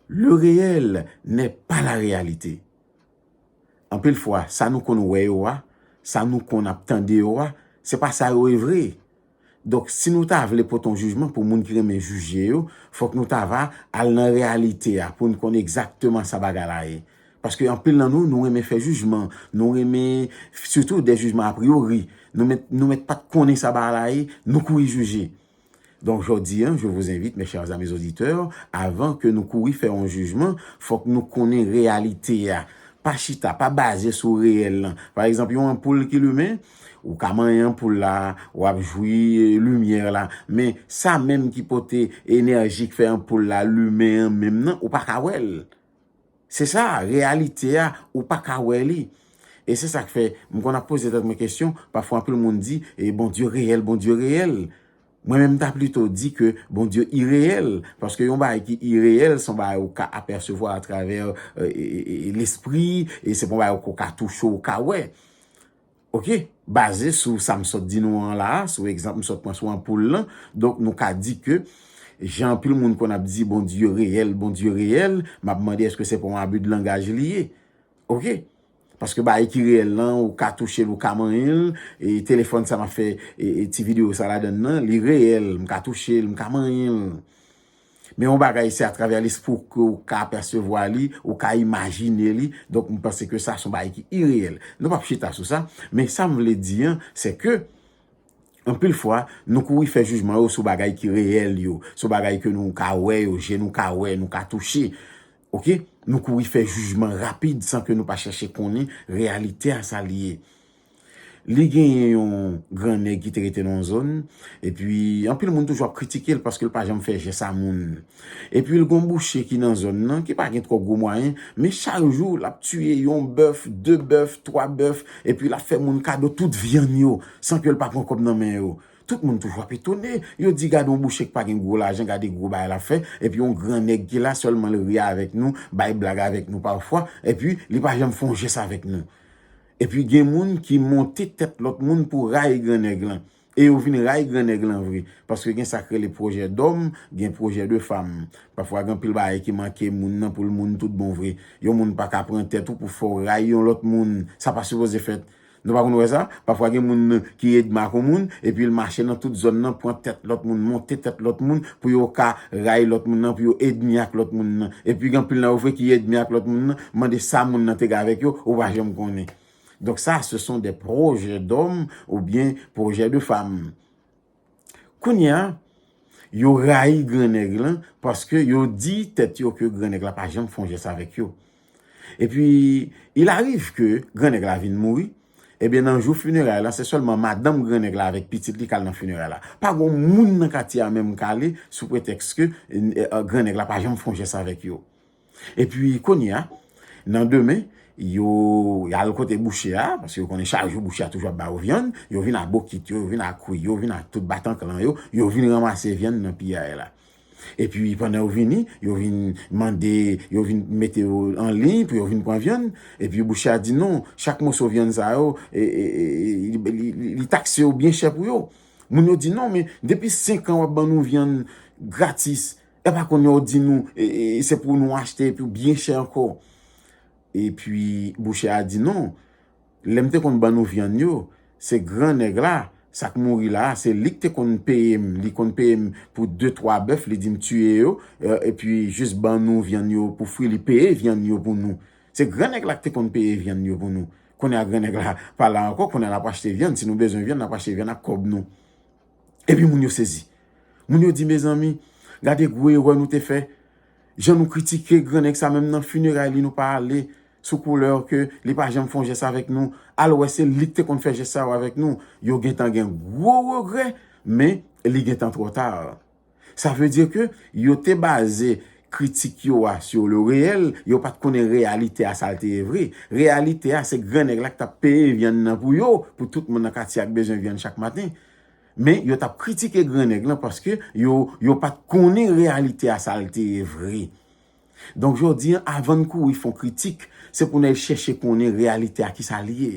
Le reyèl nè pa la reyalite. Anpil fwa, sa nou konn wè yo a, sa nou konn ap tande yo a, se pa sa yo ye vre. Donk, si nou ta vle pote yon jijman pou moun ki renmen jije yo, fòk nou ta va al nan reyalite a pou n konn egzakteman sa bagay la ye. Paske anpil nan nou, nou renmen fè jijman, nou renmen, sitou de jijman apriyori. Nou mèt pa t konnen sa bagay la ye, nou kouri jije. Donk jodi an, je vous invite mes chers amis auditeurs, avan ke nou kouri fè yon jijman, fòk nou konnen reyalite a. Pa chita, pa baze sou reyèl lan. Pa egzanp, yon anpoul ki limen, ou ka manyen anpoul la, w ap jwi limyè la, men sa menm ki pote enèji k fè anpoul la limen an menm nan, ou pa ka wè l. Se sa, reyalite a, ou pa ka wè li. E se sa k fè, m konn ap poze tèt mwen kesyon, pafwa anpil moun di, e Bondye reyèl, Bondye reyèl. Mwen menm m ta plito di ke Bondye ireyèl, paske yon bagay ki ireyèl, se yon bagay ou ka apèsevwa atravè lespri, e se pa yon bagay ou ka touche, ou ka wè. Ok, baze sou sa m sot di nou an la a, sou egzanp m sot pran sou anpoul lan, donk nou ka di ke jan anpil moun konn ap di Bondye reyèl, Bondye reyèl, m ap mande èske se pa yon abi de langaj li ye? Ok. Paske bagay ki reyèl lan, ou ka touche l, ou ka manyen l, e telefòn sa m ap fè ti videyo sa ladan l lan, li reyèl, m ka touche l, m ka manyen l. Men yon bagay se atravè lespri w ke ou ka apèsevwa li, ou ka imajine li, donk m panse ke sa se yon bagay ki ireyèl. Nou p ap chita sou sa, men sa m vle di an, se ke, anpil fwa, nou kouri fè jijman yo sou bagay ki reyèl yo, sou bagay ke nou ka wè yo, je nou ka wè, nou ka touche, ok? Nou kouri fè jijman rapid san ke nou pa chache konnen reyalite a sa li ye. Li genyen yon gran nèg ki te rete nan yon zòn, epi anpil moun toujou ap kritike l paske l pa janm fè jès a moun. Epi l gen yon bouche ki nan zòn nan ki pa gen twò gwo mwayen, men chak jou l ap tiye yon bèf, de bèf, twa bèf, epi l ap fè moun kado tout vyann yo san ke l pa pran kòb nan men yo. Tout moun toujou ap etone, yo di gade yon bouche ki pa gen gwo lajan, gade gwo bagay l ap fè, epi yon gran nèg ki la sèlman l ri avèk nou, bay blag avèk nou pafwa, epi li pa janm fè yon jès avèk nou. Epi gen moun ki monte tèt lòt moun pou rayi gran nèg lan. E yo vin rayi gran nèg lan vre. Paske gen sa k rele pwojè dòm, gen pwojè de fam. Pafwa gen anpil bagay ki manke moun nan pou l moun tout bon vre. Yon moun pa ka pran tèt ou pou fè w rayi yon lòt moun. Sa pa sipoze fèt. Nou pa konn wè sa? Pafwa gen moun ki edma kon moun, epi l mache nan tout zòn nan pran tèt lòt moun, monte tèt lòt moun pou yo ka rayi lòt moun nan, pou yo edmi ak lòt moun nan. Epi gen anpil nan yo vre ki edmi ak lòt moun nan, mande sa moun nan te gen avèk yo, ou pa janm konnen. Donk sa, se son de pwojè dòm oubyen pwojè de fam. Kounye a, yo rayi gran nèg lan paske yo di tèt yo ke gran nèg la pa janm fè yon jès avèk yo. E pi, il ariv ke gran nèg la vin mouri, e byen nan jou funeray la, se sèlman madanm gran nèg la avèk pitit li k al nan funeray la. Pa gon moun nan katye a menm k ale sou pretèks ke gran nèg la pa janm fon jès avèk yo. E pi, kounye a, nan demen, yo al kote bouchè a, paske yo konnen chak jou bouchè a toujou ap ba yo vyann, yo vin a bokit yo, yo vin a kwi yo, yo vin a tout batanklan yo, yo vin ranmase vyann nan piyay la. Epi pandan yo vini, yo vin mande, yo vin mete yo an liy pou yo vin pran vyann. Epi bouche a di non, chak moso vyann sa yo, li takse yo byen chè pou yo. Moun yo di non, men depi 5 an wap ban nou vyann gratis, e pa kounye a ou di nou, se pou nou achte epi byen chè ankò. Epi bouche a di non, Lèm te konn ban nou vyann yo se gran nèg la sak mouri la a se lik te konn peyem li konn peyem pou de twa bèf li dim tiye yo epi jis ban nou vyann yo pou fri li peye vyann yo pou nou se gran nèg la ki te konn peye vyann yo pou nou kounye a gran nèg la pa la ankò kounye a nap achte vyann si nou bezwen vyann nap achte vyann ak kòb nou epi moun yo sezi moun yo di mezanmi gade gwo erè nou te fè jan nou kritike gran nèg sa menm nan fineray li nou pa ale sou couleur ke li pa janm fon jès avèk nou al wè se lik te konn fè jès sa yo avèk nou yo gentan gen gwo regrè men li gentan twò tar sa vle di ke yo te baze kritik yo a sur le reel yo pat konnen reyalite a sal te ye vre reyalite a se gran nèg la ki tap peye vyann nan pou yo pou tout moun nan katye a k bezwen vyann chak maten men yo tap kritike gran nèg lan paske yo yo pat konnen reyalite a sal te ye vre. Donk jodi an avan n kouri fon kritik, se pou n al chèche konnen reyalite a ki sa l ye.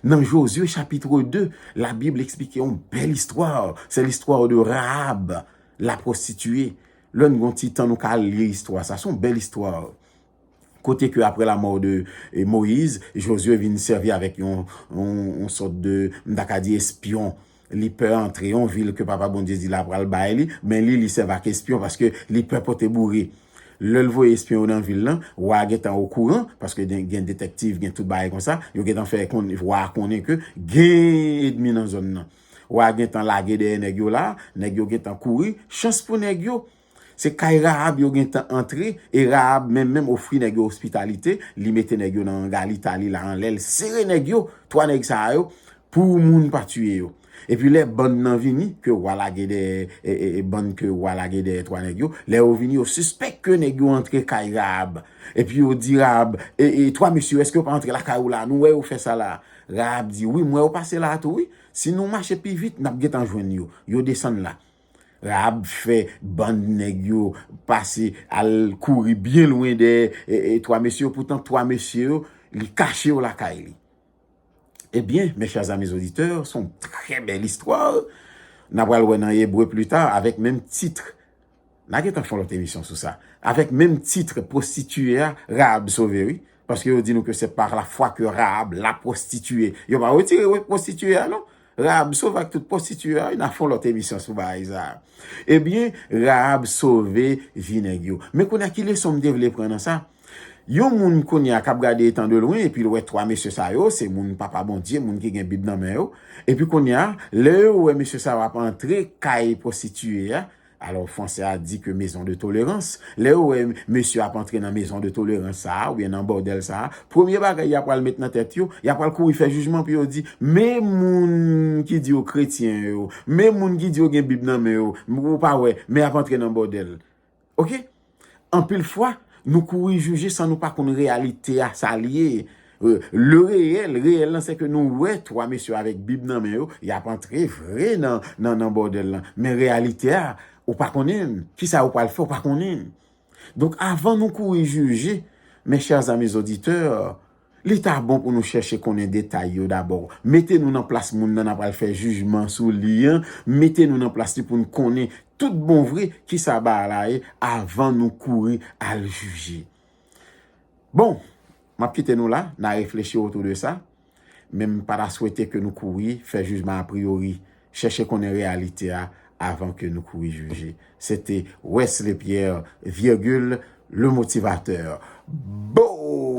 Nan Jozye chapitre 2, Labib esplike yon bèl istwa, se listwa de Rahab, la pwostitiye. Lè n gen yon ti tan nou ka al li istwa sa, se yon bèl istwa. Kote ke aprè lamò de Moyiz, Jozye vin sèvi avèk yon sòt de, m ta ka di espyon. Li pè antre yon vil ke Papa Bondye di la pral bay li, men li li sèv ak espyon paske li pè pote boure. Lè l voye espyon yo nan vil lan, wa a gentan okouran, paske gen detèktiv, gen tout bagay konsa, yo gentan fè wa a konnen ke gen edmi nan zòn lan. Wa a gentan lage dèyè nèg yo la, nèg yo gentan kouri, chans pou nèg yo, Se kay Rahab yo gen tan antre e Rahab menm menm ofri nèg yo ospitalite, li mete nèg yo nan anga li ta li la anlè l sere nèg yo, 3 nèg sa a yo pou moun pa tiye yo. Epi lè bann nan vini ke wa lage dèyè bann ke wa lage dèyè 3 nèg yo, lè yo vini yo sispèk ke nèg yo antre kay Rahab epi yo di Rahab, e 3 mesye yo èske yo pa antre lakay ou la a nou wè yo fè sa la a? Rahab di, wi m wè yo pase la a tou wi, si nou mache pi vit n ap gen tan jwenn yo. Yo desann la. Rahab fè bann nèg yo pase al kouri byen lwen dèyè 3 mesye yo, poutan 3 mesye yo, li kache yo lakay li. Ebyen, mes chers amis auditeurs, son trè bèl istwa, na pral wè nan Ebre plus tard avèk menm titre, na gentan fè yon lòt emisyon sou sa, avèk menm titre, pwostitiye a, Rahab sove wi, Paske yo di nou ke se par la fwa ke Rahab la pwostitiye. Yo pa wetire wè pwostitiye a non. Rahab sove ak tout pwostitiye a wi. Na fon lòt emisyon sou bagay sa a. Ebyen, Rahab sove vi nèg yo. Men kounye a ki leson m te vle pran nan sa? Yon moun kounye a k ap gade etan de lwen epi l wè 3 mesye sa yo, se moun Papa Bondye, moun ki gen Bib nan men yo. Epi kounye a, lè yo wè mesye sa yo ap antre kay pwostitiye a, Alò Fransè a di ke mezon de tolerans, lè yo wè mesye ap antre nan mezon de tolerans sa a, oubyen nan bòdèl sa a, premye bagay ya pral met nan tèt yo, ya pral kouri fè jijman pou yo di, men moun ki di yo kretyen yo, men moun ki di yo gen bib nan men yo, ou pa wè, men yap antre nan bòdèl. Ok! Anpil fwa, nou kouri jije san nou pa konn reyalite a sa l ye. Le reyèl, reyèl lan se ke nou wè 3 mesye avèk bib nan men yo, y ap antre vre nan bòdèl lan. Men reyalite a, ou pa konnen l. Kisa yo pral fè, ou pa konnen l. Donk avan nou kouri jije, mes chers amis auditeurs, Li ta bon pou nou chèche konnen detay yo dabò. Mete nou nan plas moun nan n apral fè jijman sou li an. Mete nou nan plas li pou n konnen tout bon vre ki sa bagay la ye avan nou kouri al jije. Bon! M ap kite nou la, n a reflechi otou de sa. Men m pa ta swete ke nou kouri fè jijman apriyori. Chèche konnen reyalite a avan ke nou kouri jije. Se te Wesley Pierre, Virgule, Le Motivateur. Boo!